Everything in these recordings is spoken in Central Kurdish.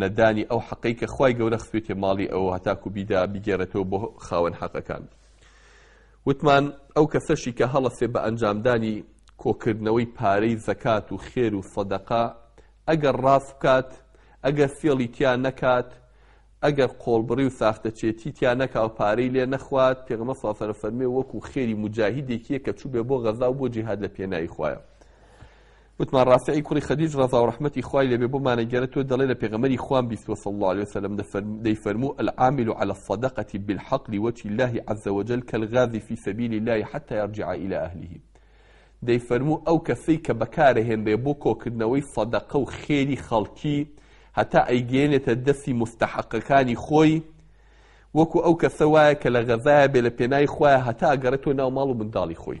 نەدانی ئەو حەقەی کە خوای گەورە خستوێتێ ماڵی ئەو هەتاکو بیدا بیگەرێتەوە بۆ خاوەن حەقەکان وتمان ئەو کەسەشی کە هەڵەسێ بە ئەنجامدانی کۆکردنەوەی پارەی زەکات و خێر و سەدەقا ئەگەر ڕاست بکات ئەگەر فێڵی تیا نەکات ئەگەر قۆڵبڕی و ساختەچێتی تیا نەکا و پارەی لێ نەخوات پێغمە ساسەرە فەرمێ وەکو خێری مجاهیدێکیە کە چوو بێ بۆ غەزا و بۆ جیهاد لە پێناایی خوایە وتمان ڕافعی کوڕی خەدیج ڕەزاو ڕەحمەتی خوای لێبێ بۆمانەگێرە تۆ دەڵێ لە پێغەمبەری خوام بیستوە صلی اللە علیە وسلم دەیفەرموو العامل علی الصدقە بالحق لوجه اللە عز وجل کالغازی فی سبیل اللە حتی یرجع الی اهله دەیفەرموو ئەو کەسەی کە بەکارەهێنرێ بۆ کۆکردنەوەی صدقە و خێری خەڵکی هەتا ئەیگەێنێتە دەستی مستحقەکانی خۆی وەکو ئەو کەسە وایە کە لە غەزایە بێ لە پێنای خوایە هەتا ئەگەڕێتەوە ناو ماڵ و منداڵی خۆی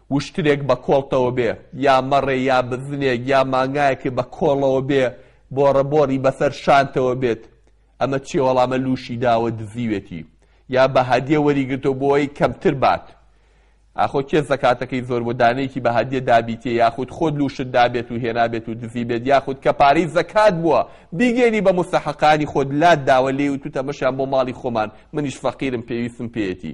وشترێک بە کۆڵتەوە بێ، یا مەڕێ یا بزنێک یا مانگایەکێ بە کۆڵەوە بێ، بۆڕە بۆڕی بەسەر شانتەوە بێت، ئەمە چیە وەڵامە لووشی داوە دزیوێتی یا بە هەدیە وەری گرتوە بۆوەی کەمتر بات، ئاخۆ کێ زەکاتەکەی زۆر بۆ دانەیەکی بە هەدیە دابیتیە یاخود خۆت لووشت دابێت و هێنابێت و دزیبێت یاخود کە پارەی زەکات بووە بیگەێنی بە موستەحەقانی خۆت لات داوە لێی وتوت ئەمەشیان بۆ ماڵی خۆمان منیش فەقیرم پێویستم پێیەتی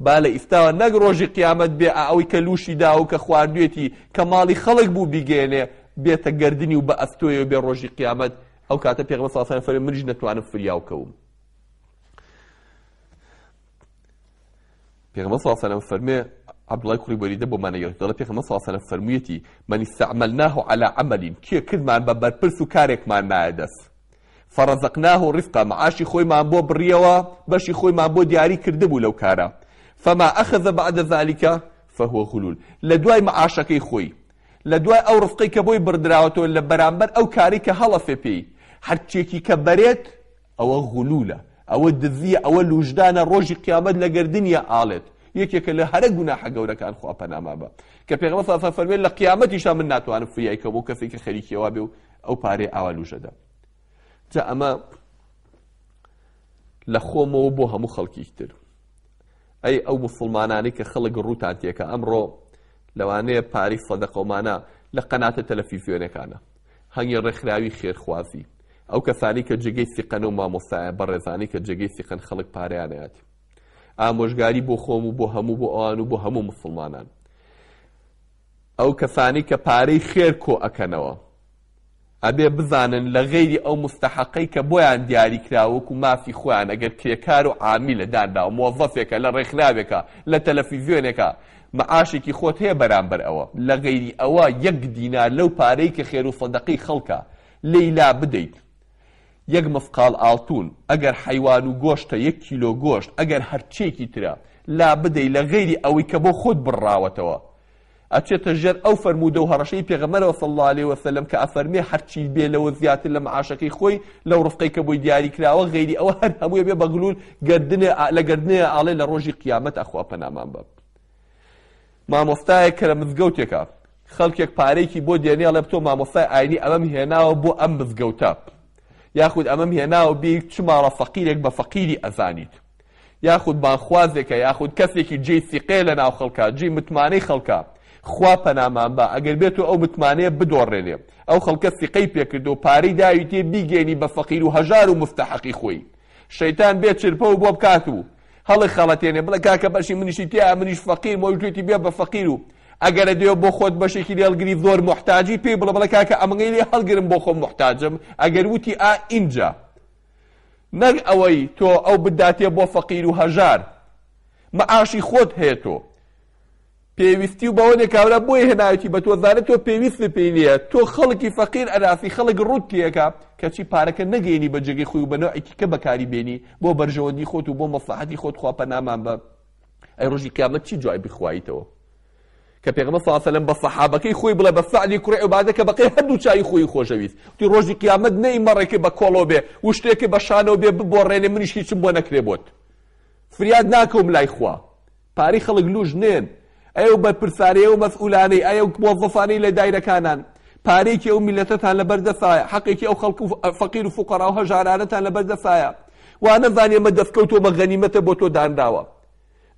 با لە ئیستاوە نەک ڕۆژی قیامەت بێ ئا ئەوی کە لووشی داوە و کە خواردوێتی کە ماڵی خەڵک بوو بیگەیەنێ بێتە گەردنی و بە ئەستۆیەوە بێ ڕۆژی قیامەت ئەو کاتە پێغەمبەر صلی اللە علیە و سلم فەرمووی منیش نەتوانم فریاو کەوم پێغەمبەر صلی اللە علیە و سلم فەرمێ عبدالله کوڕی بەریدە بۆ مانەگەرت دەڵێ پێغەمبەر صلی اللە علیە و سلم فەرموویەتی من استعملناه على عمل کێ کردمان بە بەرپرس و کارێکمان نایە دەست فرزقناه رزقا معاشی خۆیمان بۆ بڕیەوە بەشی خۆیمان بۆ دیاری کردبوو لەو کارە فما اخذ بعد ذلک فهو غلول لە دوای معاشەکەی خۆی لە دوای ئەو رزقەی کە بۆی بڕدراوەتەوە لە بەرامبەر ئەو کارەی کە هەڵەسێ پێی هەرچیەکی کە بەرێت ئەوە غلولە ئەوە دزیە ئەوە لوژدانە رۆژی قیامەت لە گەردنیە ئاڵێت یەکێکە لە هەرە گوناحە گەورەکان خوا پەنامان بە کە پێغەمبەر صلی اللە علیه و سلم فەرمووی لە قیامەتیشا من ناتوانم فریای کەم بۆ کەسێکی خەریکی ئەوە بێ و ئەو پارەی ئاوا لوژەدا جا ئەمە لە خۆمەوە بۆ هەموو خەڵکیتر ئەی ئەو مسلمانانی کە خەڵک ڕووتان تێکە ئەمڕۆ لەوانەیە پاری سەدەقەمانە لە قەناتە تەلەفیزیۆنەکانە هەنگی ڕێکخراوی خێرخوازی ئەو کەسانی کە جێگەی سیقەن و مامۆسایە بە ڕێزانی کە جێگەی سیقەن خەڵک پاریانەتی ئامۆژگاری بۆ خۆم و بۆ هەموو بۆ ئەوان و بۆ هەموو مسلمانان ئەو کەسانەی کە پارەی خێر کۆ ئەکەنەوە ئەبێ بزانن لە غەیری ئەو موستەحەقەی کە بۆیان دیاری کراوە وەکو مافی خۆیان ئەگەر کرێکار و عامیلە دانراوە مۆزەفێکە لە ڕێکخراوێکە لە تەلەفیزیۆنێکە معاشێکی خۆت هەیە بەرامبەر ئەوە لە غەیری ئەوە یەک دینار لەو پارەی کە خێرو سەدەقەی خەڵکە لێی لابدەیت یەک مسقاڵ ئاڵتوون، ئەگەر حەیوان و گۆشتە یەک کیلۆ گۆشت، ئەگەر هەرچییەکی ترە، لابدەی لە غەیری ئەوەی کە بۆ خۆت بڕراوەتەوە، ئەچێتە ژێر ئەو فەرموودە و هەڕەشەی پێغەمبەرەوە صلی اللە علیە وسلم کە ئەفەرمێ هەرچی بێ لەوە زیاتر لە معاشەکەی خۆی لەو ڕزقەی کە بۆی دیاری کراوە غەیری ئەوە هەر هەمووی بێ بەغلول گەردنێ لە گەردنێ ئاڵێ لە ڕۆژی قیامەت ئەخوا پەنامان بە مامۆستایەک کە لە مزگەوتێکە خەڵکێک پارەیەکی بۆ دێنێ ئەڵێ بتۆ مامۆستای ئاینی ئەمەم هێناوە بۆ ئەم مزگەوتە یاخود ئەمەم هێناوە بێ چ ماڵە فەقیرێک بە فەقیری ئەزانیت یاخود بانخوازێکە یاخود کەسێکی جێی سیقەیە لە ناو خەڵکە جێی متمانەی خەڵکە خوا پەنامان بە ئەگەر بێت و ئەو متمانەیە بدۆڕێنێ ئەو خەڵکە سیقەی پێکرد و پارەی داوی تێ بیگەێنی بە فەقیر و هەژار و مستەحەقی خۆی شەیتان بێ چرپە و بۆ بکات و هەڵیخەڵەتێنێ بڵێ کاکە بەشی منیشی تیایە منیش فەقیرم ئەویش گوێتی بێ بە فەقیر و ئەگەرە دێ بۆ خۆت بەشێکی لێ هەڵگری زۆر موحتاجی پێی بڵێ بڵێ کاکە ئەمەی لێ هەڵگرم بۆ خۆم موحتاجم ئەگەر وتی ئا ئینجا نەک ئەوەی تۆ ئەو بداتێ بۆ فەقیر و هەژار مەعاشی خۆت هەیە تۆ پێویستی و بەوەنێ کابرا بۆیە هێناویتی بە تۆ زانێ تۆ پێویستت پێی نییە تۆ خەڵکی فەقیر ئەناسی خەڵک ڕووتیەکە کەچی پارەکە نەگەیەنی بە جێگەی خۆی و بە نەوعی تیکە بەکاری بێنی بۆ بەرژەوەندی خۆت و بۆ مەسلەحەتی خۆت خوا پەنامان بە ئەی ڕۆژی قیامەت چی جوای بخوایتەوە کە پێغمە ساسەلم بە سەحابەکەی خۆی بڵێ بە سەعلی کوڕی عبادە کە بەقی هەردوو چای خۆی خۆشەویست تی ڕۆژی قیامەت نەی مەڕێکی بە کۆڵۆ بێ وشتێکی بە شانەوە بێ ببۆڕێنێ منیشی چم بۆ نەکرێ بۆت فریاد ناکەم لای خوا پارەی خەڵک لوش نێن ئەی ئەو بەرپرسانەی ئەو مەسئولانەی ئەی ئەو موەزەفانەی لە دایرەکانان پارەیەکی ئەو میلەتەتان لەبەر دەسایە حەقێکی ئەو خەڵک و فەقیر و فوقەراو هەژارانەتان لەبەر دەسایە وا نەزانی ئەمە دەستکەوتو بە غەنیمەتە بۆ تۆ دانراوە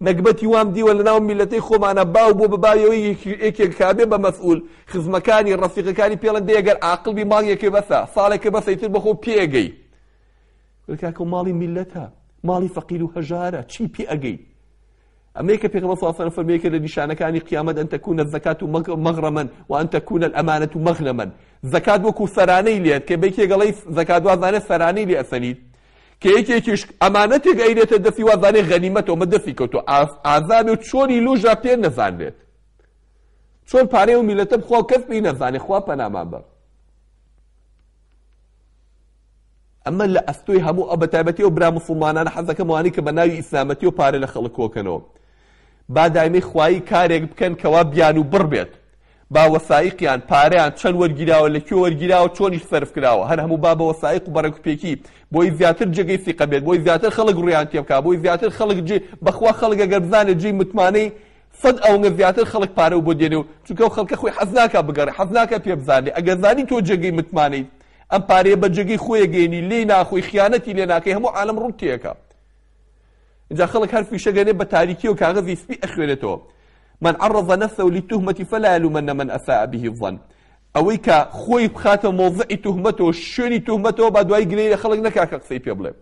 نەگبەتی وام دیوە لە ناو میلەتەی خۆمانە باو بۆ بە باویەوەی یەکێک کابێ بە مەسئول خزمەکانی ڕەفیقەکانی پێڵەن دێ گەر عاقڵ بی مانگێکێ بەسە ساڵێکە بەسە ئیتر بەخۆ پێگەی کاکە و ماڵی میلەتە ماڵی فەقیر و هەژارە چی پێ ئەگەی ئەمەی کە پێغمبەر صلی الله علیه و فەرمێکە لە نیشانەکانی قیامەت ئەن تەکون الزکات و مغرما و ئەن تەکون الامانه مغنما زکات وەکو سەرانەی لێت کە بێکی گەڵی زکات وازانە سەرانەی لێ ئەسەنیت کە یەکێکیش ئەمانەتێک ئەیرێتە دەسی وازانێ غەنیمەتەوە مە دەسی کەوتو ئازاد و چۆنی لوژا پێ نەزانرێت چۆن پارەی و میلەتە بخوا کەس پێی نەزانێ خوا پەنامان بە ئەمە لە ئەستۆی هەموو ئەو بەتایبەتی ئەو برا موسڵمانانە حەزەکەم ئەوانەی کە بە ناوی ئیسلامەتی و پارە لە خەڵک کۆکەنەوە با دایمەی خوایی کارێک بکەن کەوا بیان و بڕ بێت با وەسایقیان پارەیان چەند وەرگیراوە لە کوێ وەرگیراوە چۆنیش سەرف کراوە هەر هەموو با بە وەسایق و بەڕێکوپێکی بۆی زیاتر جێگەی سیقە بێت بۆی زیاتر خەڵک ڕویان تێ بکا بۆی زیاتر خەڵک جێ بەخوا خەڵک ئەگەر بزانێت جێی متمانەی سەد ئەوەنگە زیاتر خەڵک پارە و بۆ دێنێ و چونکە خەڵکە خۆی حەز ناکا بگەڕێ حەز ناکە پێ بزانێ ئەگەر زانی تۆ جێگەی متمانەیت ئەم پارەیە بە جێگەی خۆی ئەگەینی لێی ناخۆی خیانەتی لێ ناکەی هەموو عالەم ڕوت تێکا جا خەڵک هەر فیشە گەنێ بە تاریکی و کاغەزی سپی ئەخوێنێتەوە من عرض نفسه للتهمة فلا يلومن من أساء به الظن ئەوەی کە خۆی بخاتە مۆزعی تهمەتەوە شوێنی تهمەتەوە با دوای گلەی لە خەڵک نەکا کە قسەی پێ بڵێ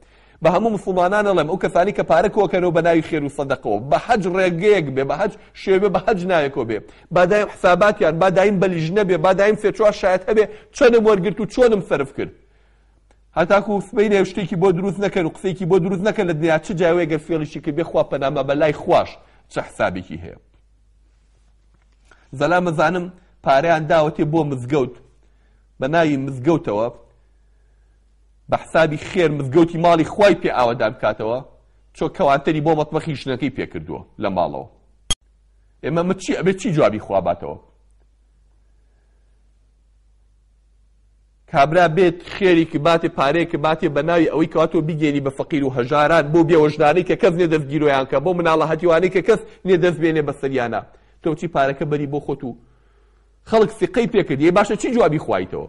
بە هەموو موسڵمانان ئەڵێم ئەو کەسانەی کە پارە کۆکەنەوە بە ناوی خێرو سەدەقەوە بە هەج ڕێگەیەک بێ بە هەج شێوێ بە هەج ناوێکەوە بێ با دایم حساباتیان با دایم بە لیژنە بێ با دایم سێ چوار شایەت هەبێ چەنم وەرگرت و چۆنم سەرف کرد هەتاکو سبەینێ شتێکی بۆ دروست نەکەن و قسێکی بۆ دروست نەکەن لە دنیا چ جاوەیە گەر فێڵیشی کرد بێ خوا پەنامە بە لای خواش چە حسابێکی هەیە زەلا مەزانم پارەیان داوەتێ بۆ مزگەوت بە ناوی مزگەوتەوە بە حسابی خێر مزگەوتی ماڵی خوای پێ ئاوەدان بکاتەوە چۆ کەوانتەری بۆ مەتبەخی ژنەکەی پێ کردووە لە ماڵەوە ئێمە مە چی ئەبێ چی جوابی خوا باتەوە کابرا بێت خێریکی باتێ پارەیەکە باتێ بە ناوی ئەوەی کاتۆ بگەێنی بە فەقیر و هەژاران بۆ بێوەژدانەی کە کەس نێ دەستگیرۆیان کە بۆ مناڵە هەتیوانەی کە کەس نێ دەست بێنێ بە سەریانە تۆچی پارەکە بەری بۆ خۆت و خەڵک سیقەی پێکرد یە باشە چی جوابی خوایتەوە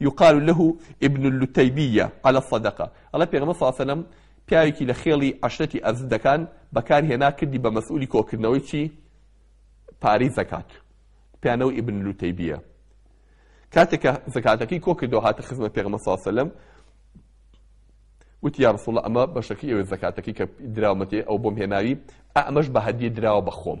یقال له ابن اللتیبیە علی الصدقە، ئەڵێ پێغەمبەر صلی اللە علیە وسلم پیاوێکی لە خێڵی عەشرەتی ئەزدەکان بەکار هێنا کردی بە مەسئولی کۆکردنەوەی چی؟ پارەی زەکات پیانەوە ئیبن لوتەیبیە کاتێک کە زەکاتەکەی کۆ کردەوە هاتە خزمەت پێغمە ساسەلم وتی یا رسول ئەمە بەشەکە ئێوە زەکاتەکەی کە دراومەتێ ئەو بۆم هێناوی ئەمەش بە هەدیە دراوە بەخۆم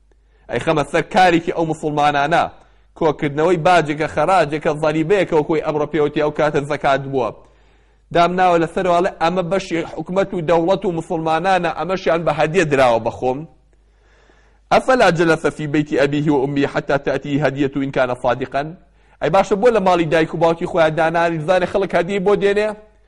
ئەیخەمە سەر کارێکی ئەو موسوڵمانانە، کۆکردنەوەی باجێکە، خەراجێکە، زەریبەیەکە وەکو ئەوەی ئەمڕۆ پێوەتی ئەو کاتە زەکات بووە، دامناوە لەسەرەوە ئەڵێ ئەمە بەشی حکومەت و دەوڵەت و موسوڵمانانە ئەمەشیان بە هەدیە دراوە بە خۆم، افلا جلس فی بیت ابیه و امیه حتی تاتیه هدیە ان کان صادقا، ئەی باشە بۆ لە ماڵی دایک و باوکی خۆیان دانانیش بزانێ خەڵک هەدیەی بۆ دێنێ؟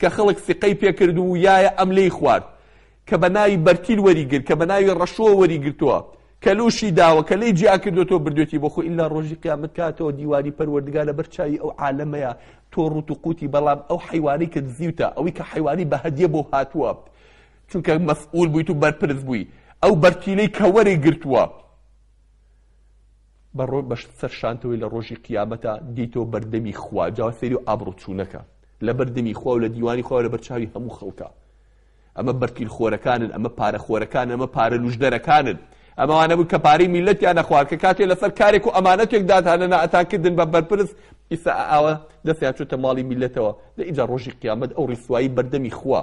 کە خەڵک سیقەی پێ کرد و یایە ئەم لێی خوارد، کە بە ناوی بەرتیل وەری گرت، کە بە ناوی ڕەشۆ وەری گرتووە، کە لووشی داوە، کە لێی جیا کردووەتەوە بردوویەتی بۆ خۆی، ئیلا ڕۆژی قیامەت کاتەوە دیوانی پەروەردگار لە بەر چاوی ئەو عالەمەیە تۆ ڕووت و قووتی، بەڵام ئەو حەیوانەی کە دزیوتە، ئەوی کە حەیوانی بە هەدیە بۆ هاتووە، چونکە مەسئوول بوویت و بەرپرس بووی، ئەو بەرتیلەی کە وەری گرتووە، بە سەر شانتەوەی لە ڕۆژی قیامەتا دێیتەوە بەردەمی خوا جا سەیری و ئابڕوچوونەکە لە بەردەمی خوا و لە دیوانی خوا لە بەرچاوی هەموو خەڵکە ئەمە بەرتیل خۆرەکانن ئەمە پارە خۆرەکان ئەمە پارە لوژدەرەکانن ئەمەوانە بوو کە پارەی میلەتیان نەخوارکە کاتێ لەسەر کارێک و ئەمانەتێک دادهانە نائەتانکردن بە بەرپرس ئیسا ئاوە دەستیان چۆتە ماڵی میلەتەوە لە ئیجا ڕۆژی قیامەت ئەو ڕیسوایی بەردەمی خوا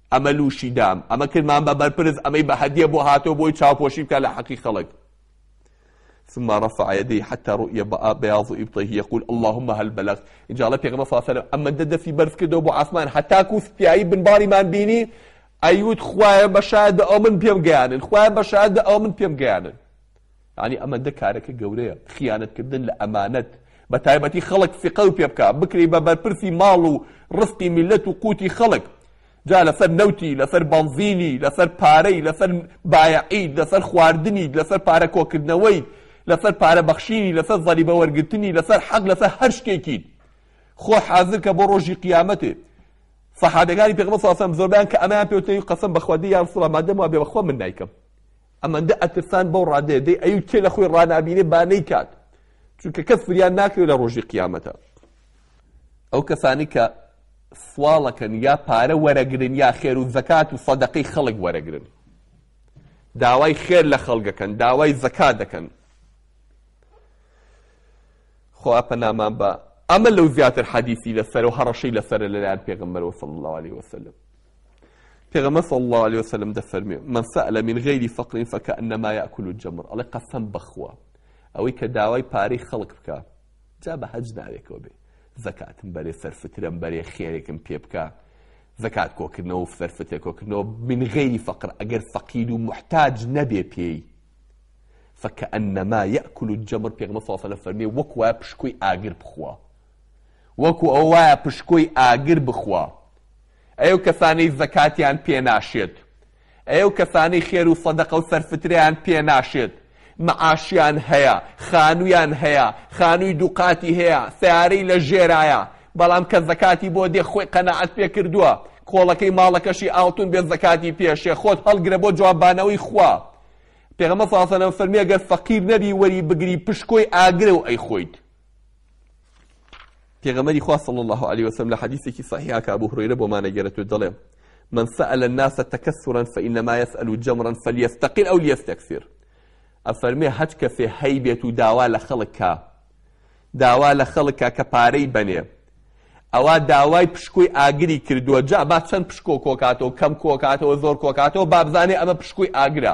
ئەمە لوشی دام ئەمە کردمان بە بەرپرس ئەمەی بە هەدیە بۆ هاتەوە بۆی چاوپۆشی بکات لە حەقی خەڵک ثم رفع يديه حتى رؤي بياض ابطيه يقول اللهم هل بلغت ان شاء الله پیغمبر صلى الله عليه وسلم اما دەستی بەرز کردەوە بۆ ئاسمان هەتا کو سپیایی بنباریمان بینی ئەیوت خوایە بە شاید ئەو من پێم گەیانن خوایە بە شاید ئەو من پێم گەیانن یانی ئەمەندە کارەکە گەورەیە خیانەت کردن لە ئەمانەت بە تایبەتی خەڵک فقەو پێ بکا بکرێی بە بەرپرسی ماڵ و ڕسقی میلەت و قوتی خەڵک جا لەسەر نەوتی لەسەر بەنزینی لەسەر پارەی لەسەر بایەعید لەسەر خواردنی لەسەر پارە کۆکردنەوەی لەسەر پارە بەخشینی لەسەر زەریبە وەرگرتنی لەسەر حەق لەسەر هەر شتێکیت خۆ حازر کە بۆ ڕۆژی قیامەتێ صحابەکانی پێغمبەر صلی الله علیه و سلم زۆربیان کە ئەمەیان پێوتەی قەسەم بەخوا دی یا رسول الله مادەم وا بێ بەخوا من نایکەم ئەمەندە ئەترسان بەو ڕادەیە دەی ئەیوت کێ لە خۆی ڕانابینێ با نەیکات چونکە کەس فریان ناکرێت لە ڕۆژی قیامەتە ئەو کەسانی کە سواڵەکەن یا پارە وەرەگرن یا خێر و زەکات و سەدەقەی خەڵک وەرەگرن داوای خێر لە خەڵگەکەن داوای زەکات دەکەن خۆ پەنامان بە ئەمە لەو زیاتر حەدیسی لەسەر و هەڕەشەی لەسەر لەلایەن پێغمبەرەوە صلی الله عليه وسلم پێغەمبەر صلی اللە علیە وسلم دەفەرموێ من سەئلە من غیر فقر فکأنما یأکل الجمر ئەڵێ قەسەم بەخوا ئەوەی کە داوای پارەی خەڵک بکا جا بە هەج ناوێکەوە بێ زەکاتم بەرێ سەرفترم بەرێ خێرێکم پێ بکە زەکات کۆکردنەوە و سەرفتێ کۆکردنەوە من غیری فەقر ئەگەر فەقیر و محتاج نەبێ پێی فکەئەنەما یەکل و جەمر پێغمە ساسەلە فەرمی وەک وایە پشکۆی ئاگر بخوا وەکو ئەو وایە پشکۆی ئاگر بخوا ئەی ئەو کەسانەی زەکاتیان پێ ناشێت، ئەی ئەو کەسانەی خێر و سەدەقە و سەرفترەیان پێ ناشێت، معاشیان هەیە، خانوویان هەیە، خانووی دوو قاتی هەیە، سەیارەی لە ژێرایە، بەڵام کە زەکاتی بۆ دێ خۆی قەناعەت پێ کردووە، کۆڵەکەی ماڵەکەشی ئاڵتوون بێ زەکاتی پێ شێ، خۆت هەڵگرە بۆ جوابانەوەی خوا. پێغەمبەر صلی اللە علیە وسلم فەرمی، ئەگەر فەقیر نەبی وەری بگری پشکۆی ئاگرە و ئەیخۆیت. پێغەمبەری خوا صلی الله علیه و سلم لە حدیثێکی صحیحا کە ابو هريره بۆ مانەگەرێت و دەڵێ من سأل الناس تكسرا فإنما يسأل جمرا فليستقل أو ليستكثر ئەفەرمێ هەچ کەسێ هەی بێت و داوا لە خەڵککە داوا لە خەڵکە کە پارەی بەنێ ئەوە داوای پشکۆی ئاگری کردووە جا با چەند پشکۆ کۆکاتەوە کەم کۆکاتەوە زۆر کۆکاتەوە بابزانێ ئەمە پشکۆی ئاگرە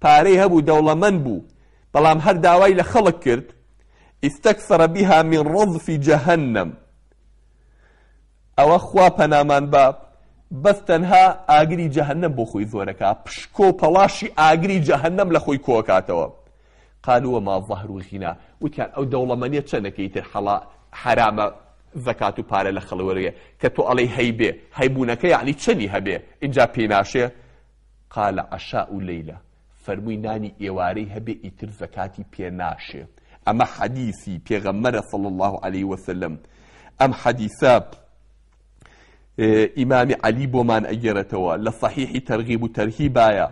پارەی هەبوو دەوڵەمەند بوو بەڵام هەر داوای لە خەڵک کرد استکثر بها من رضف جهنم ئەوە خوا پەنامان با بەس تەنها ئاگری جەهنم بۆ خۆی زۆرەکە پشکۆ و پەڵاشی ئاگری جەهنم لە خۆی کۆکاتەوە قالوا ما ظهر و غینا وتیان ئەو دەوڵەمەنیە چەنەکەی تر حەڵا حرامە زەکات و پارە لە خەڵوەرەیە کە تۆ ئەڵێ هەیبێ هەیبوونەکە یعنی چەنی هەبێ اینجا پێناشێ قال عشاء لیلە، فەرمووی نانی ئێوارەی هەبێ ئیتر زەکاتی پێ ناشێ، ئەمە حەدیسی پێغەمبەرە صلی اللە علیە وسلم، ئەم حەدیسە ئیمامی علی بۆمان ئەگێڕێتەوە لە صحیحی ترغیب و ترهیبایە،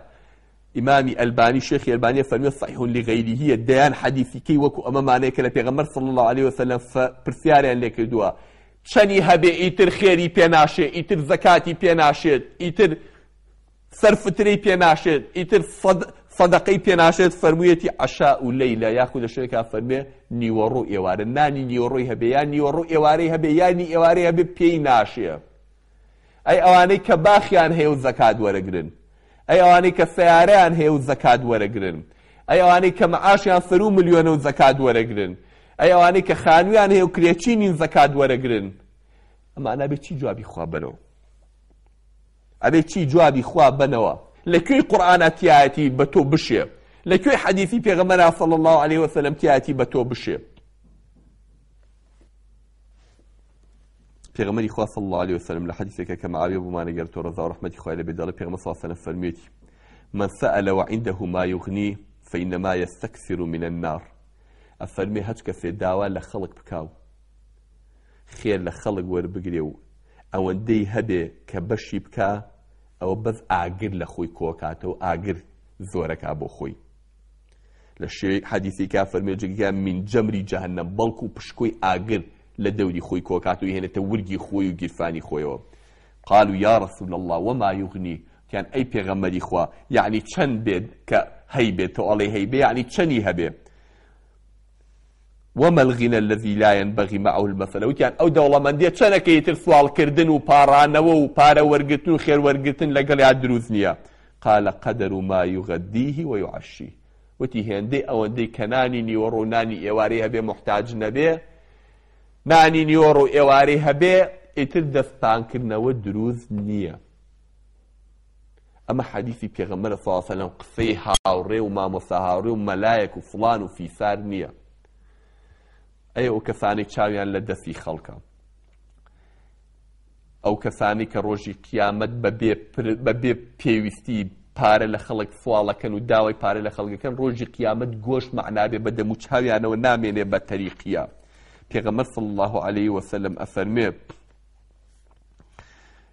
ئیمامی ئەلبانی شێخی ئەلبانی ئەفەرموێ صحیح لغیرهیە، دەیان حەدیسی کەی وەکو ئەمەمانەیە کە لە پێغەمبەر صلی اللە علیە وسلم پرسیاریان لێ کردووە چەنی هەبێ ئیتر خێری پێ ناشێ، ئیتر زەکاتی پێ ناشێت، ئیتر سەر فترەی پێ ناشێت ئیتر سەد سەدەقەی پێ ناشێت فەرموویەتی عەشاء و لەیلە یاخود لە شوێنێکا فەرمێ نیوەڕۆ ئێوارە نانی نیوەڕۆی هەبێ یا نیوەڕۆ ئێوارەی هەبێ یا نی ئێوارەی هەبێ پێی ناشێ ئەی ئەوانەی کە باخیان هەیە و زەکات وەرەگرن ئەی ئەوانەی کە سیارەیان هەیە و زەکات وەرەگرن ئەی ئەوانەی کە معاشیان سەرو ملیۆنە و زەکات وەرەگرن ئەی ئەوانەی کە خانویان هەیە و کرێچی نین زەکات وەرەگرن ئەمانە بێ چی جوابی خوا بەرەوە ئەبێ چی جوابی خوا بەنەوە لە کوێی قورئانا تیایەتی بە تۆ بشێ لە کوێی حەدیثی پێغەمبەرا صلی الله علیه وسلم تیایەتی بە تۆ بشێ پێغەمبەری خوا صلی الله علیه وسلم لە حەدیثێکە کە معاویە بوومانە گەر تۆ ڕەزا و ڕەحمەتی خوای لە بێدەڵە پێغەمبەر صلی الله علیه وسلم فەرمیێتی من سأل وعنده ما يغني فإنما يستكثر من النار ئەفەرمێ هەچ کەسێ داوا لە خەڵک بکاو خێر لە خەڵک وەربگرێ و ئەوەندەی هەبێ کە بەشی بکا ئەوە بەس ئاگر لە خۆی کۆکاتەوە ئاگر زۆرەکا بۆ خۆی لە شێوەی حەدیثێکا فەرمێ جگە من جەمری جەهنم بەڵکو و پشکۆی ئاگر لە دەوری خۆی کۆکات و هێنێتە ورگی خۆی و گیرفانی خۆیەوە قال و یا رسول الله وما یغنی یان ئەی پێغەمەری خوا یعنی چەند بێت کە هەی بێت تۆ ئەڵێ هەی بێ یعنی چەنی هەبێ وما الغنى الذي لا ينبغي معه المثل وتیان ئەو دەوڵەمەندیە چەنە کە ئیتر سواڵکردن و پاڕانەوە و پارە وەرگرتن و خێر وەرگرتن لەگەڵیا دروست نییە قال قدر ما يغديه ويعشيه وتی هێندەی ئەوەندەی کە نانی نیوەڕۆ و نانی ئێوارەی هەبێ محتاج نەبێ نانی نیوەڕۆ و ئێوارەی هەبێ ئیتر دەستپانکردنەوە دروست نییە ئەمە حەدیسی پێغەمبەرە صلی اللە علیە وسلم قسەی هاوڕێ و مامۆستا هاوڕێ و مەلایەک و فڵان و فیسار نییە ئەی ئەو کەسانی چاویان لە دەستی خەڵکە ئەو کەسانی کە ڕۆژی قیامەت بە بێ پێویستی پارە لە خەڵک سواڵەکەن و داوای پارە لە خەڵگەکەن ڕۆژی قیامەت گۆش معنابێ بە دەم و چاویانەوە نامێنێ بە تەریقیە پێغەمە صل الله عليه وسلم ئەفەرمێ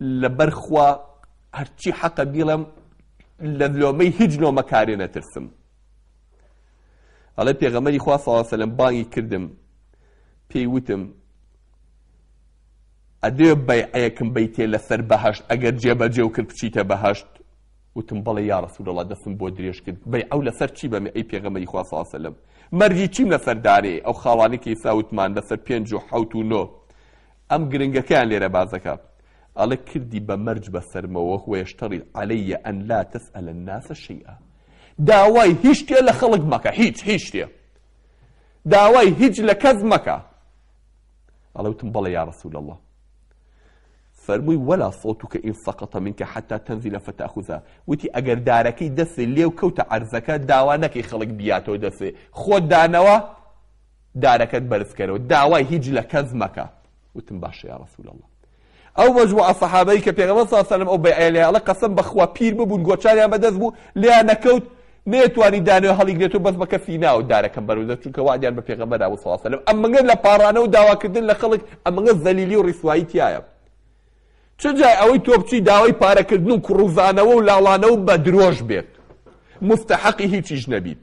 لەبەر خوا هەرچی حەقە بیڵێم لە لۆمەی هیچ لۆمەکارێ نەترسم ئەڵێ پێغەمەری خوا صلی سەلم بانگی کردم پێی وتم ئەدێ بەیعەیەکم بیتێ لەسەر بەهشت ئەگەر جێبەجێ و کرد بچیتە بەهشت وتم بەڵێ یا رسول الله دەستم بۆ درێژ کرد بەی ئەو لەسەر چی بەمێ ئەی پێغەمەری خوا صلی سەلم مەرجی چیم لەسەر دارێ ئەو خاڵانێکی ساوتمان لەسەر پێنج و حوت و نۆ ئەم گرنگەکەیان لێرە باس دەکا ئەڵێ کردی بە مەرج بە سەرمەوە وەیەشتەڕی عەلەیە ئەن لا تەسئەلە الناس شەیئا داوای هیچ شتێ لە خەڵک مەکە هیچ هیچ شتێ داوای هیچ لە کەس مەکە ئەڵێ وتم بەڵێ یا رسول الله فەرمووی ولا صوتك إن سقط منك حتى تنزل فتأخذها وتی ئەگەر دارەکەی دەسێ لێو کەوتە عەرزەکە داوا نەکەی خەڵک بیاتەوە دەسێ خۆت دانەوە دارەکەت بەرز کەرەوە داوای هیچ لە کەس مەکە وتم باشە یا رسول اللە ئەو مەجموعە سەحابەی کە پێغەمبەر صلی اللە علیه و سلم ئەو بەیعەیە لێ ئەڵێ قەسەم بەخوا پیر ببوون گۆچانیان بەدەست بوو لێیان نەکەوت نەیەتوانی دانێ هەڵیگرێت و بەس بە کەسی ناو دارەکەم بەرودە چونکە وعدیان بە پێغەمبەر ئەبوو صلی اللە علیه و سلم ئەمەگە لە پاڕانە و داواکردن لە خەڵک ئەمەگە زەلیلی و ڕیسوایی تایە چ جای ئەوەی تۆ بچی داوای پارەکردن و کوڕوزانەوە و لاڵانەوە بە درۆش بێت مستحقی هیچیش نەبیت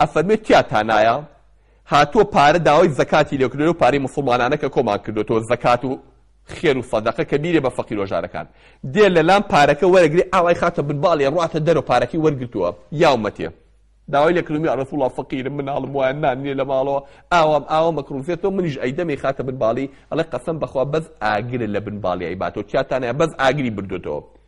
ئەفەرموێ کیا تانایا هاتووە پارە داوای زەکاتی لێکردوە لەو پارەی موسڵمانانە کە کۆمان کردوەتەوە زەکات و خێر و سەدەقە کە بیرێ بە فەقیر وەژارەکان دێ لەلام پارەکە وەرەگری ئاوای خاتە بن باڵێ ڕاتە دەرەوە پارەکەی وەرگتووە یاومەتێ داوای لە کردمی ڕسوڵ الله فەقیرم مناڵم وایە نان نییە لە ماڵەوە ئاوام ئاوا مەکڕوزێتەوە منیش ئەیدەمی خاتە بن باڵی ئەڵێ قەسەم بەخوا بەس ئاگرە لە بن باڵی ئەیباتەوە چاتانە بەس ئاگری بردوێتەوە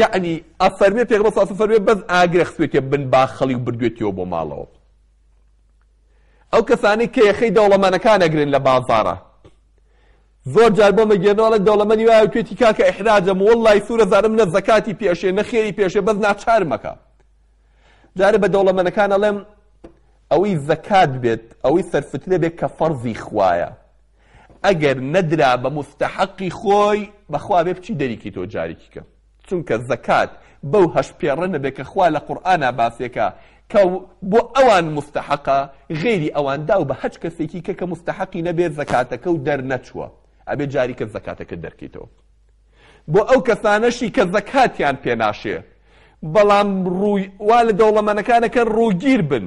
یەعنی ئەفەرمێ پێغەمبەر صلی اللە علیە وسلم فەرموێ بەس ئاگرە خستوێتیە بن باخەڵی و بردوێتیەوە بۆ ماڵەوە ئەو کەسانەی کە یەخەی دەوڵەمەنەکان ئەگرن لە بازاڕە زۆر جار بۆ مەگەێنەوەڵە دەوڵەمەنی وایە توێتی کاکە ئحراجەم وڵی سوورە زارم نە زەکاتی پێشێ نەخێری پێشێ بەس ناچارمەکە جارە بە دەوڵەمەنەکان ئەڵێم ئەوەی زەکات بێت ئەوەی سەرفتنە بێت کە فەرزی خوایە ئەگەر نەدرا بە موستەحەقی خۆی بەخوا بێ بچی دەریکی تۆ جاریکی کە چونکە زەکات بەو هەشت پێڕە نەبێ کە خوا لە قورئانا باسیەکا کە بۆ ئەوان موستەحەقە غەیری ئەوان داو بە هەچ کەسێکی کە کە موستەحەقی نەبێ زەکاتەکە و دەرنەچووە ئەبێ جاریکە زەکاتەکە دەرکەیتەوە بۆ ئەو کەسانەشی کە زەکاتیان پێناشێ بەڵام ڕووی وا لە دەوڵەمەنەکانەکە ڕووگیر بن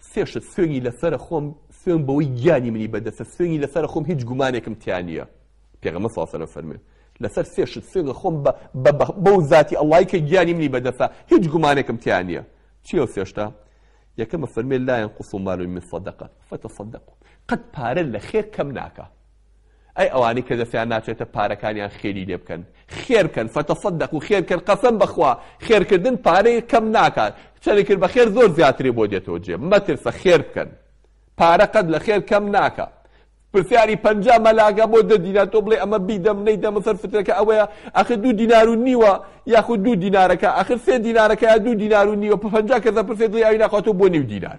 سێ شت سوێنی لەسەرە خۆم سوێن بەوەی گیانی منی بەدەستە سوێنی لەسەرە خۆم هیچ گومانێکم تیا نییە پێغەمە ساسەرە فەرمێ لەسەر سێ شت سوێنە خۆم بەو ذاتی ئەڵای کە گیانی منی بەدەستە هیچ گومانێکم تیا نییە چیە سێشتا یەکەمە فەرمێ لایەن قوسڵ مالوی من صدقە فەتە صدق قەت پارە لە خێر کەم ناکە ئەی ئەوانەی کە دەستیان ناچێتە پارەکانیان خێری لێ بکەن خێرکەن فتصدقو خێرکەن قەسەم بەخوا خێرکردن پارەی کەم ناکات چەنی کرد بە خێر زۆر زیاتری بۆ دێتەوە جێ مەترسە خێر بکەن پارە قەت لە خێر کەم ناکە پرسیاری پەنجا مەلاگە بۆ دە دینار تۆ بڵێ ئەمە بیدەم نەیدەمە سەر فترەکە ئەوەیە ئەخر دوو دینار و نیوە یاخود دوو دینارەکە ئەخر سێ دینارەکە یا دوو دینار و نیوە پەنجا کەسە پرسێت دڵی ئەوی ناخواتۆ بۆ نیو دینار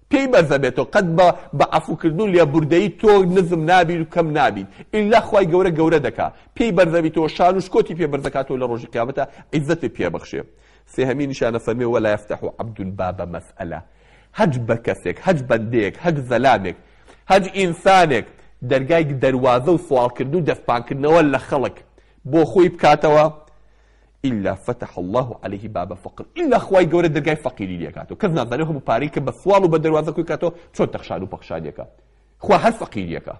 پێی بەرزە بێتۆ قەت بە بە عەفو کردنو لێبوردەیی تۆ نزم نابیت و کەم نابیت ئیلا خوای گەورە گەورە دەکا پێی بەرزە بیتەوە شانو شکۆتی پێ بەرز دەکاتەوە لە ڕۆژی قیامەتا عیزەتت پێ بەخشێ سێهەمین نیشانە فەرمێ ولا یفتح عبد باب مسئلە هەچ بە کەسێک هەچ بەندەیەک هەچ زەلامێک هەچ ئینسانێک دەرگای دەروازەو سواڵکردنو دەستپانکردنەوە لە خەڵک بۆ خۆی بکاتەوە الا فتح اللە علیه باب فقر الا خوای گەورە دەرگای فەقیری لێ کاتەوە کەس نازانێ ئەو هەموو پارەی کە بە سواڵ و بە دەروازە کۆی کاتەوە چۆن تەخشان و پەخشانیەکە خوا هەر فەقیریەکە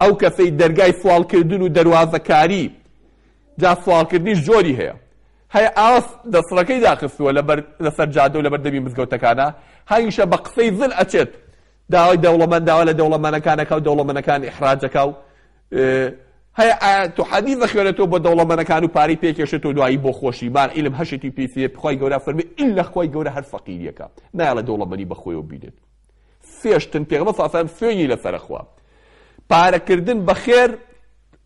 ئەو کەسەی دەرگای سوالکردن و دەروازەکاری جا سوالکردنیش جۆری هەیە هەیە ئاس دەسڕەکەی داخستووە لەبەر لەسەر جادە و لەبەر دەمی مزگەوتەکانە هەمیشە بە قسەی زل ئەچێت داوای دەوڵەمەن داوا لە دەوڵەمەنەکان ئەکا و دەوڵەمەنەکان ئیحراج ئەکا و هەیە ئایەت و حەدیث ئەخوێنێتەوە بۆ دەوڵەمەنەکان و پارەی پێ ئەکێشێتەوە دوایی بۆ خۆشی بار عیلم هەشێتی پێی فێ خوای گەورە فەرمی ئیلا خوای گەورە هەر فەقیریەکە نایەڵە دەوڵەمەنی بە خۆیەوە بینێت فێشتن پێغەمبەر صلی الله علیه و سلم فێنی لەسەر خوا پارەکردن بەخێر